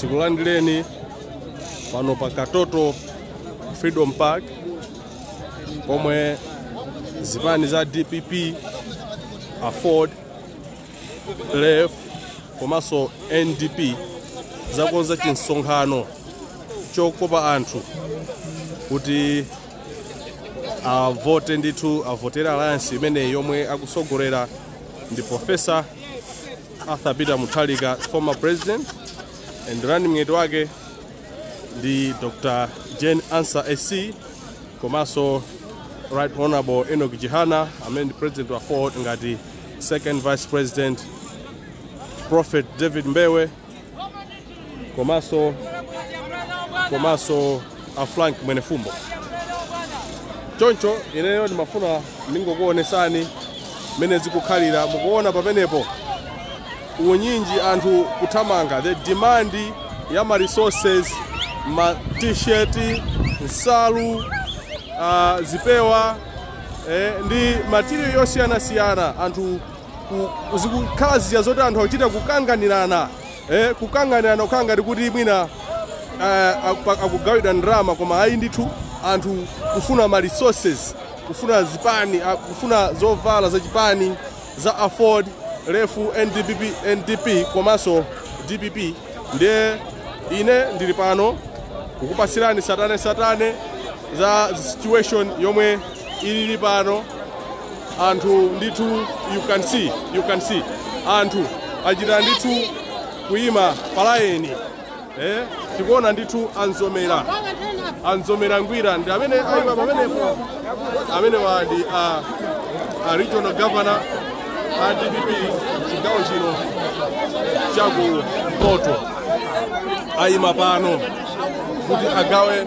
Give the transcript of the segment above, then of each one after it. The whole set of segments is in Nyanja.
tikulandireni pano pa katoto freedom park pomwe zipani za dpp aford lef komanso ndp zakonza chinsonkhano chokopa anthu kuti avote ndithu avotere alliance imeneyi yomwe akusogolera ndi professor arthur peter mutharika former president and running mate wake ndi dr jane ansah sc komanso right honorable enoch chihana amene ndi president wa aford ngati second vice president prophet david mbewe komanso komanso a frank mwenefumbo choncho ineyo ndimafuna ndingokuonesani mmene zikukhalira mukuona pamenepo unyinji anthu kuthamanga the demand ya ma resources ma t-shirt nsalu uh, zipewa eh, ndi material yosiyanasiyana anthu ku- ku- zikukhala zija zoti anthu akuchita kukanganirana eh, kukanganirana kukhala ngati kuti mwina eh, aku- akugawidwa ndalama koma ayi ndithu anthu kufuna ma resources kufuna zipani ah, kufuna zovala za chipani za aford lef ndpp ndp komanso dpp ndiye ine ndili pano kukupatsirani satane satane za situation yomwe ilili pano anthu ndithu you can see you can see anthu achita ndithu kuyima palaini Eh, tikuona ndithu amzomera amzomera ngwira ndi amene ayima pamenepo amenewa ndi a, a regional governor a dpp chigawo chino chaku mpoto ayima pano kuti agawe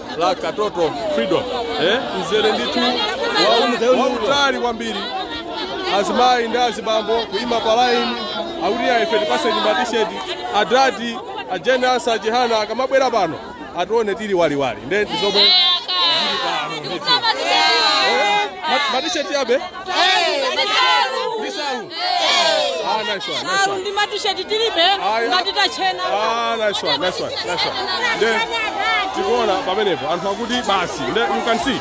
la Katoto Freedom eh, mzere ndithu wa- wautali kwambiri azimayi ndi azibambo kuima pa laini akuti ife tipaseni matisheti adadi a Jane Ansah a Chihana akamabwera pano atione tili waliwali nde ndi zomwe zili pano ndithu. Eh, ma- matisheti abe Ah, nice one, nice one. ndi matisheti tilibe Ayi. ngati tachena Ah, nice one, nice one, nice one. Then, tikuona pamenepo anthu akuti basi nde you can see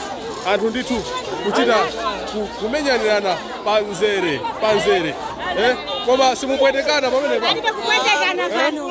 anthu ndithu kuchita ku- kumenyanirana pamzere pamzere eh? koma simupwetekana pamenepo kupwetekana pano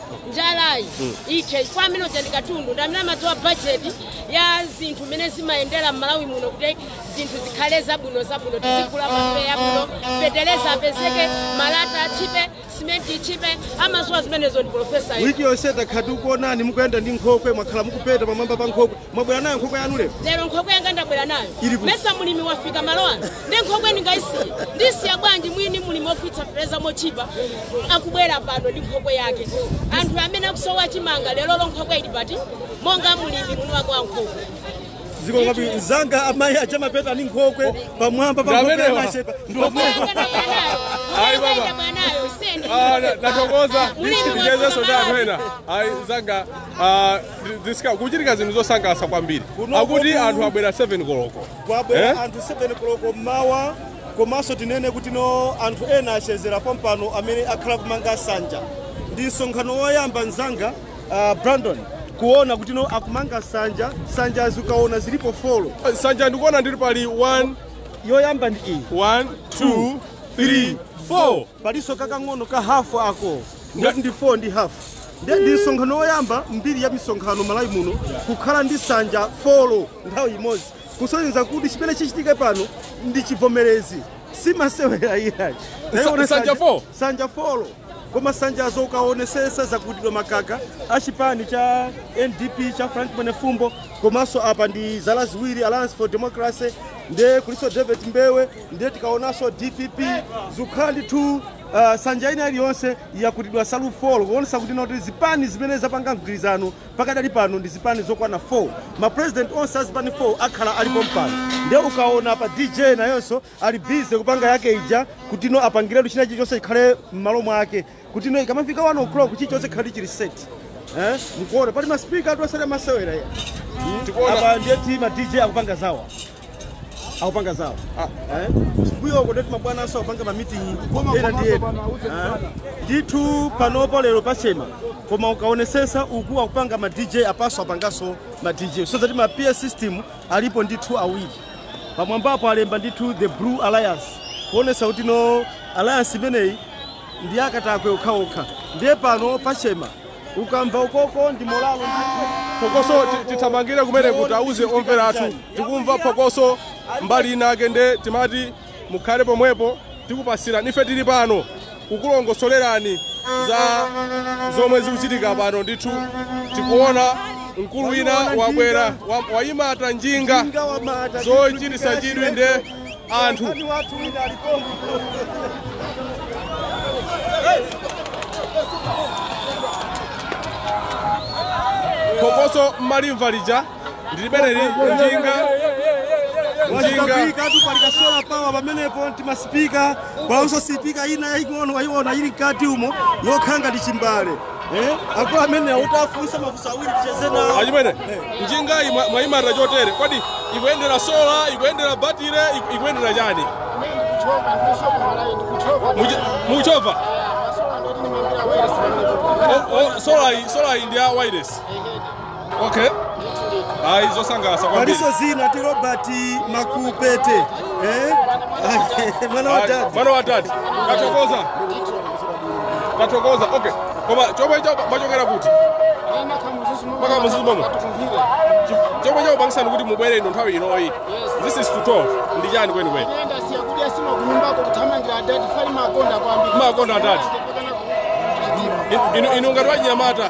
njalayi ithe chifukwa amene uja ndi katundu ndi amene amadziwa bajeti ya zinthu mmene zimayendera m'malawi muno kuti zinthu zikhale zabwino zabwino tizigula mafuta yabwino fetereza apezeke malata atchipe simenti itchipe amadziwa zimenezo ndi profesa wiki yonse takhati ukuonani mukuyenda ndi nkhokwe mwakhala mukupeta pamwamba pa nkhokwe Mwabwera nayo nkhokwe yanu lero? Lero nkhokwe yanga ndabwera nayo. Mmesa mulimi wafika malo ano. Ndi nkhokwe ndingaisiye. Ndisiya bwanji mwini mulimi otsitsa feteleza mochipa akubwera pano ndi nkhokwe yake. Anthu amene akusowa chimanga lero lo nkhokwe ili pati monga mulimi mwini wako wa nkhokwe. Ziko ngapi nzanga amayi acha mapeta ni nkhokwe pamwamba pa nkhokwe ya machepa. Nkhokwe yanga ndabwera nayo. Ayi baba. Ndabwera nayo. Sende. Ah, na- natokoza Mulimi ndichitezeso wafika cha malo anthu ena ayi zanga ah, zisika- kuchitika zinthu zosangalatsa kwambiri Kuno akuti kuku- anthu abwera 7 koloko kwabwera Eh? anthu 7 koloko mmawa komanso tinene kuti no anthu ena achezera pompano amene akhala kumanga sanja ndi msonkhano woyamba mzanga uh, brandon kuona kuti no akumanga sanja sanjazi ukaona zilipo folo sanja ndikuona ndili pali 1 yoyamba ndi iyi 1 2 3 4 palinso kakang'ono ka hafu ako ngati ndi 4 ndi hafu ndiye ndi msonkhano woyamba m'mbiri ya misonkhano malawi muno kukhala ndi sanja folo nthawi imodzi kusonyeza kuti chimene chichitike pano ndi chivomerezi si masewera iyayi Tayiona Sanja sanja- four? sanja folo koma sanjazo ukaonesesa zakutidwa makaka a chipani cha ndp cha frank mwenefumbo komanso apa ndi zala ziwiri alliance for democracy nde kulinso david mbewe ndiye tikaonanso dpp zikukhala ndithu uh, sanja ina iliyonse yakutidwa nsalu 4 kuonesa kuti no zipani zimene zapanga mgwirizano pakadali pano ndi zipani zokwana 4 mapresident onse a zipani 4 akhala ali pompano ndiye ukaona pa dj nayenso ali bize kupanga yake ija kutino apangiretu china chilichonse chikhale m'malo mwake kuti no ikamafika 1 o'clock chilichonse chikhale chili set eh mkuona pali maspika atu osati masewera ya Tikuona- apa ndiye kuti ma dj akupanga zawo akupanga zawo eh mbuyo uko ndeti mabwana aso akupanga ma meeting ena ndi ena Eh? ndithu panopo lero pa Chemba koma ukaonesesa uku akupanga ma dj apaso akupangaso ma dj so zati ma pa system alipo ndithu awiri pamwambapo alemba ndithu the blue alliance kuonesa kuti no alliance imeneyi ndi ya akatakwe okhaokha ndiye pano pachema ukamva ukoko ndi momwe phokoso ti- tithamangire kumene kuti auze omvera athu tikumva phokoso mbali inayake nde timati mukhale pomwepo tikupasirani ife tili pano kukulongosolerani za zomwe zikuchitika pano ndithu tikuona mkulu wina wabwera wa- wayimata njinga zochitisa chidwi nde anthu phokoso mmalimva lija ndilibeneli njinga njinga wazikapikatu palikasola power pamenepo ndi masipika palinso sipika ina yaying'ono wayiona ili mkati umo yokhanga ndi chimbale Eh, akulu amene ati tiwafunse mafunso awiri ticheze nawo. achimene njingayi mwa- mwayimarira chotere kodi ikuyendera sola ikuyendera batire iku- ikuyendera chani Muchi- muchova solayi ndi ya wireless okay ayi zosangalatsa kwambiri paliso dzina ndi robert makupete eh? mwana wa Ayi, dadi mwana wa dadi tathokoza tathokoza okay koma mwachokera kuti mpaka Mzuzu momwe chomwe chakupangisani kuti mubwere ino nthawi inoyi this is to 12 ndi chani kwenikweni Makonda adadi. inu ngati wachinyamata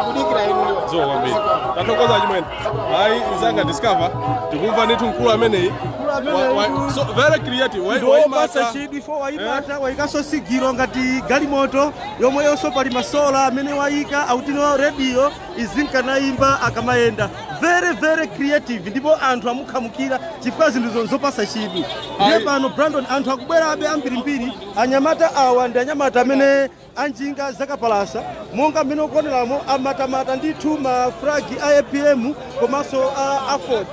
akudikira inuyo zikomo kwambiri tathokoza chimwene ayi nzanga Discover tikumva ndithu mkulu ameneyi so very creative ndiwopasa chidwi fo wayimata wayikanso sigiro ngati galimoto yomweyonso pali masola amene wayika akutinso rediyo izikhalanso iyimba akamayenda very very creative ndipo anthu amukhamukira chifukwa zinthu zonse zopasa chidwi ndiye pano brandon anthu akubwerabe ambirimbiri anyamata awa ndi anyamata amene a njinga zakapalasa monga mmene ukuoneramo amatamata ndithu ma flag a apm komanso a aford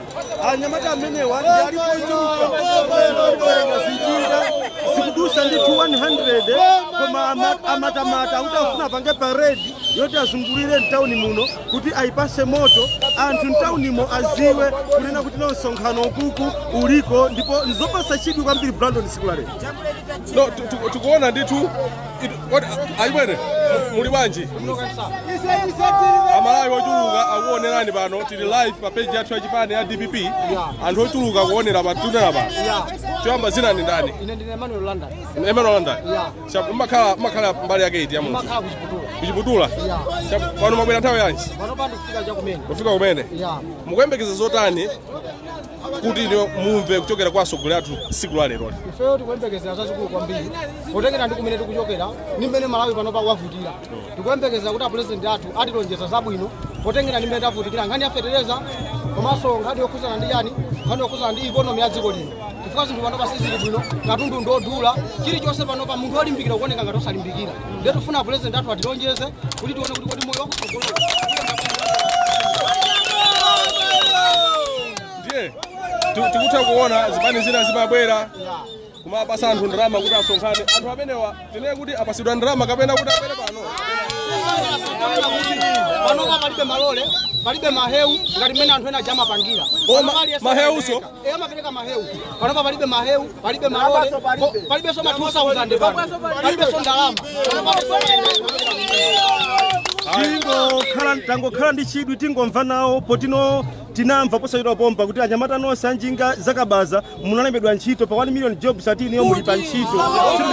anyamata amenewa ndi alipo ochuluka njinga zikudusa ndithu 100 koma amatamata akuti afuna apange paredi yoti azungulire mtawuni muno kuti ayipase moto anthu mtawunimo aziwe kunena kuti no msonkhano ukuku uliko ndipo nzopasa chidwi kwambiri brandon siku la lero no, tikuona ndithu achimwene muli bwanji amalawi ochuluka akuonerani pano tili live pa page yathu ya chipani ya dpp anthu ochuluka kuonera patunda pano choyamba zina ndi ndani ine ndine Emmanuel London emmanuel london mmakhala mbali yake iti ya Mzuzu makhala kuchiputula kuchiputula pano mwabwera nthawi yanji pano ndafika chakumene kufika kumene Yeah. mukuyembekeza zotani kuti mumve kuchokera kwa atsogoleri athu tsiku la lero ifeyo tikuyembekezera zazikulu kwambiri potengera ndi kumene tikuchokera ndi mmene malawi panopa wavutira tikuyembekezera kuti apulezidenti athu atilonjeza zabwino potengera ndi mmene tavutikira nkhani ya fetereza komanso nkhani yokhuzana ndi yani nkhani yokhuzana ndi ikonomi ya dziko lino chifukwa zinthu panopa sizili bwino katundu ndi odula chilichonse panopa munthu olimbikira kuoneka ngati osalimbikira ndiye tifuna apulezidenti athu atilonjeze kuti tione kuti kodi moyo wakutsogolo ndiye ti- tikutha kuona zipani zina zimabwera kumapasa anthu ndalama kuti asonkhane anthu amenewa tinene kuti apasidwa ndalama kapena kuti abwere pano panopa palibe malole palibe mahewu ngati mmene anthu ena aja amapangira Koma Panopa aliyense mahewuso e amapereka mahewu panopa palibe mahewu palibe malole po- palibenso ma 2000 pano palibenso ndalama tangokhala ndi chidwi tingomva nawo poti tinamva posachedwa pompa kuti anyamata nonse anjinga zakabaza munalembedwa ntchito pa 1 million jobs ati iniyo muli pa ntchito Sikuziwa kuti-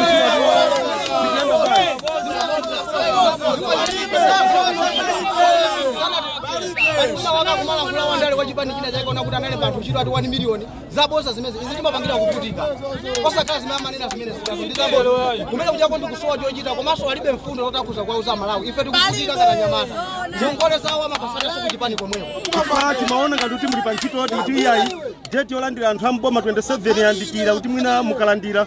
Tikuyamba bwanji? waka kumala kula wandale kwa chipani china chake onama kuti analemba anthu ntchito ati 1 million zabosa zimenezi zimatipangira kuvutika osakhala zimene amanena zimene zikazo ndi zabosa kumene kuchako ndi kusowa chochita komanso alibe mfundo zoti akuza kuwauza amalawi ife tikuvutika ngati anyamata ngongole zawo amapasana ku chipani komweko Kufala timaona ngati kuti muli pa ntchito yoti kuti iyayi date yolandira anthu a mboma 27 yandikira kuti mwina mukalandira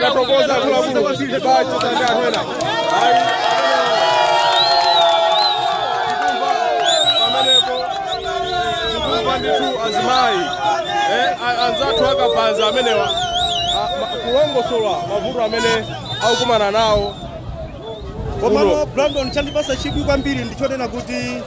tathokoza akuluakulu bacho tande anthu ena ayi tikumva pamenepo tikumva ndithu azimayi eh, a- anzathu akabaza amenewa a- ma- kulongosola mavuto amene akukumana nawo komano brandon chandipasa chidwi kwambiri ndichonena kuti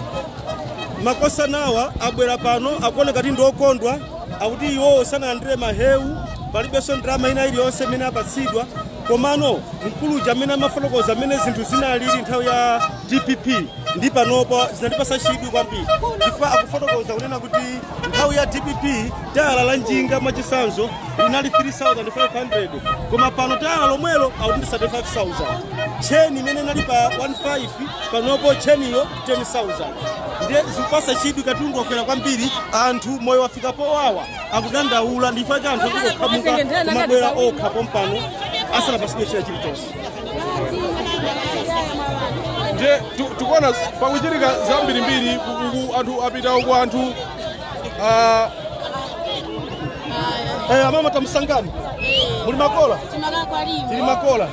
makosana awa abwera pano akuoneka kuti ndiokondwa akuti iwowo sanalandire mahewu palibenso ndalama ina iliyonse imene apatsidwa komano mkulu uja amene amafotokoza mmene zinthu zinalili nthawi ya dpp ndi panopo zinandipasa chidwi kwambiri chifukwa akufotokoza kunena kuti nthawi ya dpp tayala la njinga mwachisanzo linali 3500 koma pano tayala lomwelo akuti ndi 35000 tcheni imene inali pa 15 panopo tcheniyo 10,000 ndiye zikupasa chidwi katundu wakwera kwambiri anthu moyo wafika powawa akudandaula ndi chifukwa cha anthu akungokhamuka kumabwera okha pompano asanapasidwe china chilichonse ndiye tu- tikuona pakuchitika zambirimbiri kuku anthu apita uku anthu ah, eh, amama timusangani muli makola tili makola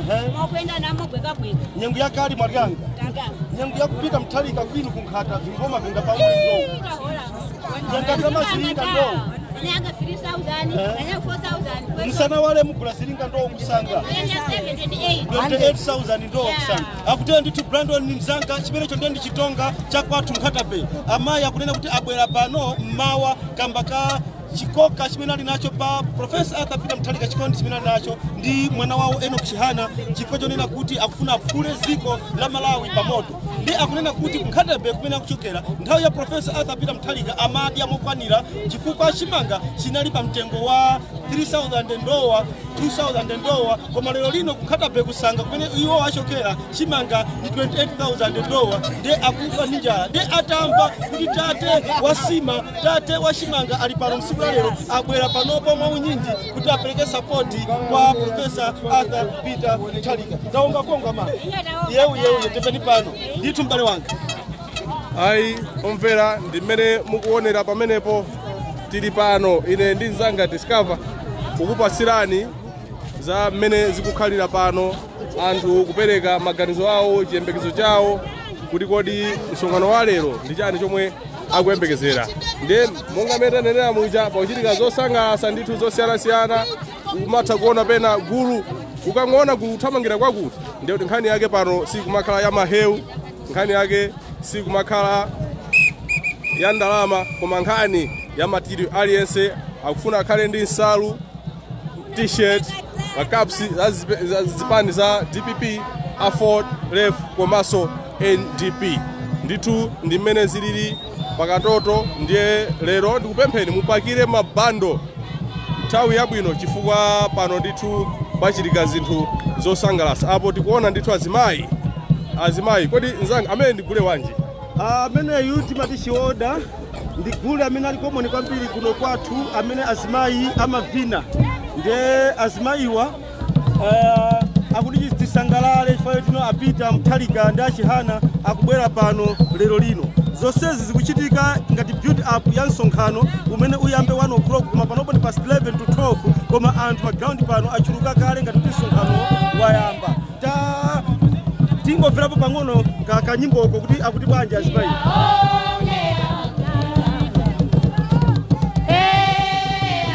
Ehe. mwakwenda namo gweka bwino nyengo yakali mwalyanga tangana nyengo yakupita mthalika kwinu kunkhata vingoma vinda pamwezo itahola Yangatama zilinga ndo. nanga 3000 Eh. nanga 4000 kwezo musana wale mugula zilinga ndo musanga yenda 78 28000 ndo Yeah. musanga akutera ndithu brandon ni mzanga chimenecho ndiye ndi chitonga cha kwathu nkhata bay amayi akunena kuti abwera pano mmawa kamba ka chikoka chimene ali nacho pa profesa arthur peter mutharika chikondi chimene ali nacho ndi mwana wawo enoch chihana chifukwa chonena kuti akufuna aphule dziko la malawi pamoto ndi akunena kuti ku nkhata bay kumene akuchokera nthawi ya profesa arthur peter mutharika amadya mokwanira chifukwa chimanga chinali pa mtengo wa 3000 ndowa 2000 ndowa koma lero lino ku nkhata bay ku sanga kumene iwo achokera chimanga ndi 28000 ndowa nde akufa ndi njala nde atamva kuti tate wa nsima tate wa chimanga ali pano mtsiku la lero abwera panopo mwa unyinji kuti apereke sapoti kwa profesa arthur peter mutharika zaonga konga ma yewu yewu yetepeni pano ndithu m'bale wanga ayi omvera ndi mmene mukuonera pamenepo tili pano ine ndi mzanga discover kukupatsirani za mmene zikukhalira pano anthu kupereka maganizo awo chiyembekezo chawo kuti kodi msonkhano wa lero ndi chani chomwe akuyembekezera ndiye monga mmene tanenera muja pakuchitika zosangalatsa ndithu zosiyanasiyana umatha kuona pena gulu ukangoona gulu kuthamangira kwakuti ndiye kuti nkhani yake pano sikumakhala ya mahewu nkhani yake sikumakhala ya ndalama koma nkhani ya material aliyense akufuna akhale ndi nsalu t-shirt makapsi za zipe- za zipani za dpp aford lef komanso ndp ndithu ndi mmene zilili pakatoto ndiye lero ndikupempheni mupakire mabando nthawi yabwino chifukwa pano ndithu pachitika zinthu zosangalatsa apo tikuona ndithu azimayi azimayi kodi nzanga amene ndigule wanji ameneyu timati chioda ndi gule amene ali komoni kwambiri kuno kwathu amene azimayi amavina ndiye azimayiwa Eh, akuti chi- tisangalale chifukwa tino a peter mutharika ndi a chihana akubwera pano lero lino zonsezi zikuchitika ngati build up ya msonkhano umene uyambe 1 o'clock koma panopo ndi past 11 to 12 koma anthu pa ground pano achuluka kale ngati kuti msonkhano wayamba ta tingomverapo pang'ono ka kanyimboko kuti akuti bwanji azimayi Oh,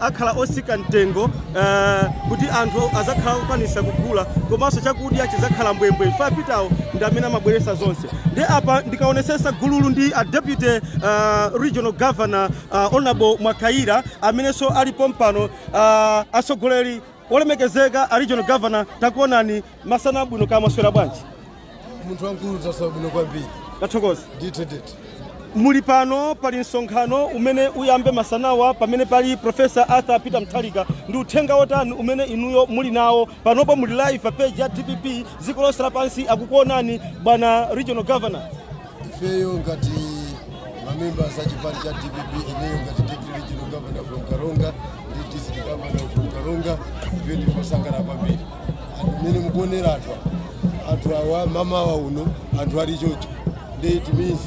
akhala osika mtengo eh, kuti anthu azakhala kukwanisa kugula komanso chakudya chizakhala mbwembwe ife a peter-wo ndi amene amabweresa zonse ndi apa ndikaonesesa gululu ndi a deputy eh, regional governor eh, honorable mwakayira amenenso ali pompano eh, atsogoleri olemekezeka a regional governor takuonani masana abwino kaya mwaswera bwanji munthu wamkulu taswera bwino kwambiri tathokoza ndithu ndithu muli pano pali msonkhano umene uyambe masanawa pamene pali profesa arthur peter mutharika ndi uthenga wotani umene inuyo muli nawo panopo muli live pa page ya dpp dziko lonse lapansi akukuonani bwana regional governor ifeyo ngati mamembas a chipani cha dpp ineyo ngati deputy regional governor from karonga ndi district governor from karonga ife ndife osangalala kwambiri anthu mmene mukuonera anthu awa anthu awa mamawa uno anthu ali chocho nde it means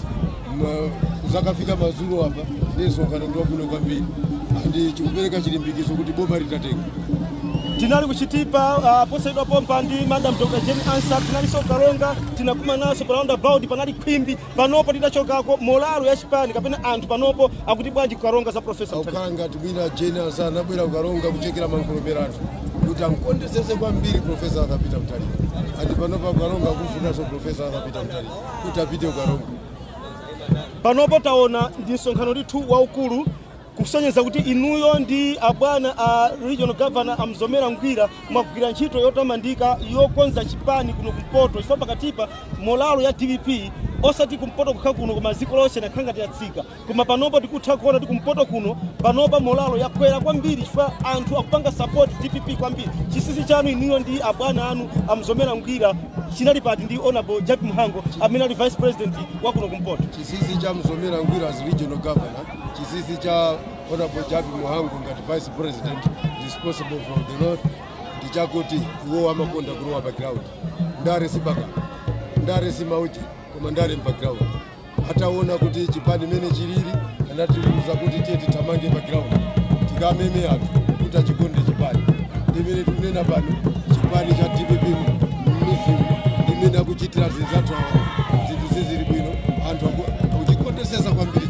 kuzakafika mazulo apa nde msonkhano ndi wabwino kwambiri andi chikupereka chilimbikitso kuti boma litatenga tinali kuchitipa uh, posachedwa pompa ndi madam dr jane ansah tinalinso kukaronga tinakumananso pa roundabout panali khwimbi panopo tidachokako molalo ya chipani kapena anthu panopo akuti bwanji kukaronga za profesa Mutharika? akukhala ngati mwina jane ansah anabwera kukaronga kuchekera mankhungulupera anthu kuti amkondesese kwambiri profesa arthur peter mutharika andi panopo kukaronga akumfunanso profesa arthur peter mutharika kuti apite kukaronga panopo taona ndi msonkhano ndithu waukulu kusonyeza kuti inuyo ndi abwana a regional governor amzomera ngwira mwagwira ntchito yotamandika yokonza chipani kuno kumpoto chifukwa pakatipa molalo ya dpp osati kumpoto kokha kuno koma dziko lonse inakhala ngati yatsika koma panopo tikutha kuona kuti kumpoto kuno panopa molalo yakwera kwambiri chifukwa anthu akupanga support dpp kwambiri chisisi chanu inuyo ndi abwana anu amzomera ngwira chinali pati ndi honorable jappie mhango amene ali vice president wa kuno kumpoto chisisi cha mzomera ngwira as regional governor Chisisi cha Honorable Jappie Mhango ngati Vice President responsible for the North ndi chakuti iwo amakonda kulowa pa ground. Ndale si baka, ndale si mauti, koma ndale mpa ground. Ataona kuti chipani mene chilili anatiuza kuti tiyeni tithamange pa ground tikameme anthu kuti achikonde chipani. Ndimene tikunena pano chipani cha DPP mmizimu ndimene akuchitira zinzathu awa zinthu sizili bwino anthu aku- akuchikondesesa kwambiri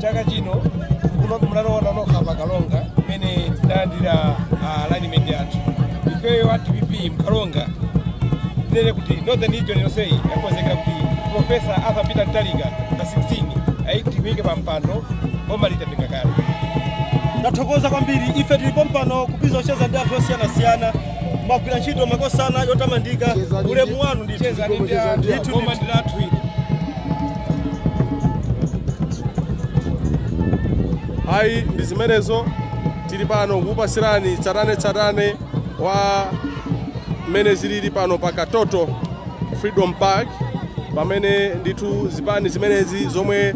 chaka chino kuno munaona nokha pakaronga kumene tidalandira running mate yathu ifeyo a dpp mkaronga tinene kuti northern region yonseyi yakonzekera kuti profesa arthur peter mutharika pa 16 adikitike pa mpando boma litatenga kale ndathokoza kwambiri ife tili pompano kupeza kucheza ndi anthu osiyanasiyana mwagwira ntchito makosana yotamandika ulemu wanu ndicheza ndi anthu boma ndi lathu ili ayi ndi zimenezo tili pano kukupasirani tsatane tsatane wa mmene zilili pano pa katoto freedom park pamene ndithu zipani zimenezi zomwe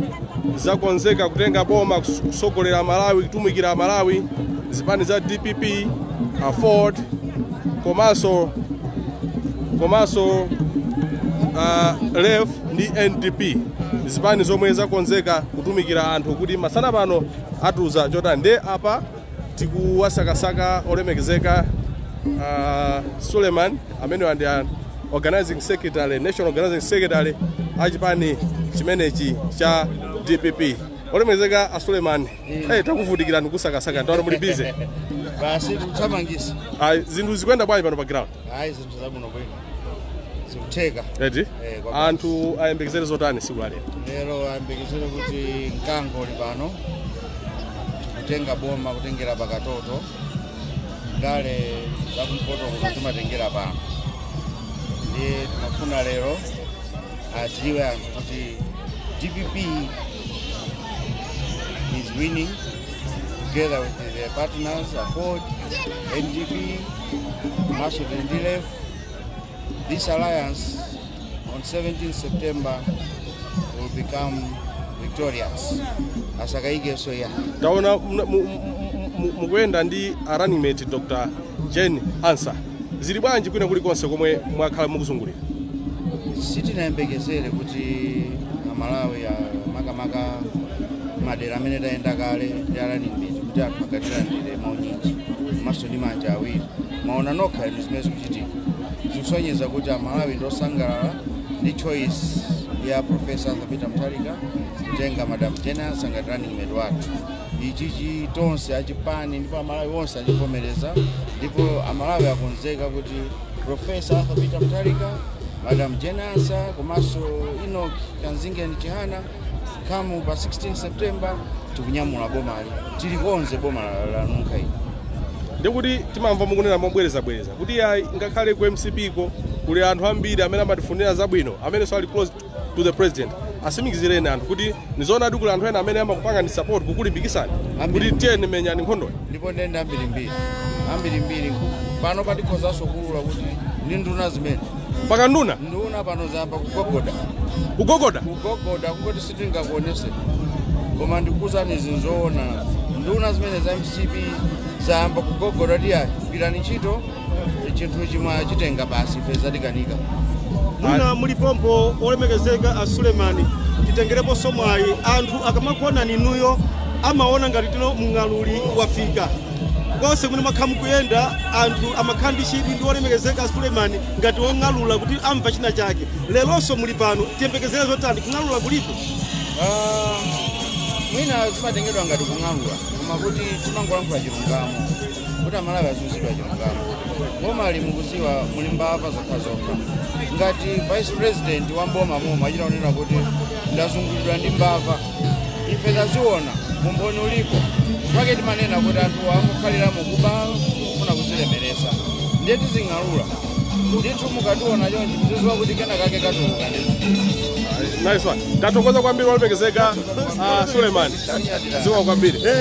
zakonzeka kutenga boma kusogolera Malawi kutumikira Malawi zipani za DPP aford komanso lef ndi NDP zipani zomwe zakonzeka kutumikira anthu kuti masana pano atiuza chotani nde apa tikuwasakasaka olemekezeka uh, suleiman amenewa ndi a organizing secretary national organizing secretary a chipani chimenechi cha dpp olemekezeka a suleiman hey, takuvutikirani kusakasaka ndaona muli busy basi tuthamangisa zinthu zikuyenda bwanji pano pa ground ayi zinthu zabwino bwino zikutheka eti Eh, kwa basi. anthu ayembekezere zotani siku la lero lero ayembekezere kuti mkango uli pano tikutenga boma kutengera pakatoto ndale zakumpoto kuno timatengera pano ndiye timafuna lero adziwe anthu kuti dpp is winning together with their partners aford ndp komanso tili ndi lef this alliance on 17 september will become victorious asakayikenso ya taona mna- mu- mu- mu- mukuyenda ndi a running mate dr jane ansah zili bwanji kwina kulikonse komwe mwakhala mukuzungulira sitinayembekezere kuti amalawi a- makamaka madera amene tayenda kale ndi a running mate kuti anthu akatilandire mwaunyinji komanso ndi manja awiri mwaona nokha inu zimene zikuchitika zikusonyeza kuti amalawi ndi osangalala ndi choice ya profesa arthur peter mutharika kutenga madam jane ansah ngati running mate wathu ichichi tonse achipani ndipo amalawi onse achivomereza ndipo amalawi akonzeka kuti profesa arthur peter mutharika madam jane ansah komanso enoch kamzingeni chihana come pa 16 september tikunyamula bomali tilikonze boma la- lanunkha ili ndikuti timamva mukunena mobwerezabwereza kuti ya ngakhale ku mcp ko kuli anthu ambiri amene amatifunira zabwino amenenso ali close to the president asimikizireni anthu kuti ndizoonadi kuli anthu ena amene amakupangani support kukulimbikisani kuti tiyeni menyani nkhondoyi ndipo nde ndi ambirimbiri ambirimbiri panopa tikhozanso kuulula kuti ndi nduna zimene mpaka nduna nduna pano zayamba kugogoda kugogoda kugogoda kungoti sitingakuonese koma ndikuwuzani izi nzoona nduna zimene za mcp zayamba kugogoda kuti ayi gwirani ntchito chinthuchi mwachitenga basi ife zatikanika mwina muli pompo olemekezeka a sulemani titengereponso mwayi anthu akamakuonani inuyo amaona ngati tino mng'aluli wafika konse kumene mwakhala mukuyenda anthu amakhala ndi chidwi ndi olemekezeka sulemani ngati wong'alula kuti amva china chake leronso muli pano tiyembekezere zotani kung'alula kulipo Ah, mwina zimatengedwa ngati kung'alula koma kuti timangolankhula chilungamo kuti amalawi aziuzidwa chilungamo bomali mukuziwa muli mbava zokhazokha ngati vice president wa mboma momo achita kunena kuti ndazungulidwa ndi mbava ife taziona umboni ulipo pake timanena kuti anthu angokhalira mukuba kufuna kuzilemeresa ndiye tizing'alula ndithu mukationa chonchi muziziwa kuti kena kake katuluka ndithu nice one tathokoza kwambiri olemekezeka uh, Sulemani ziwa kwambiri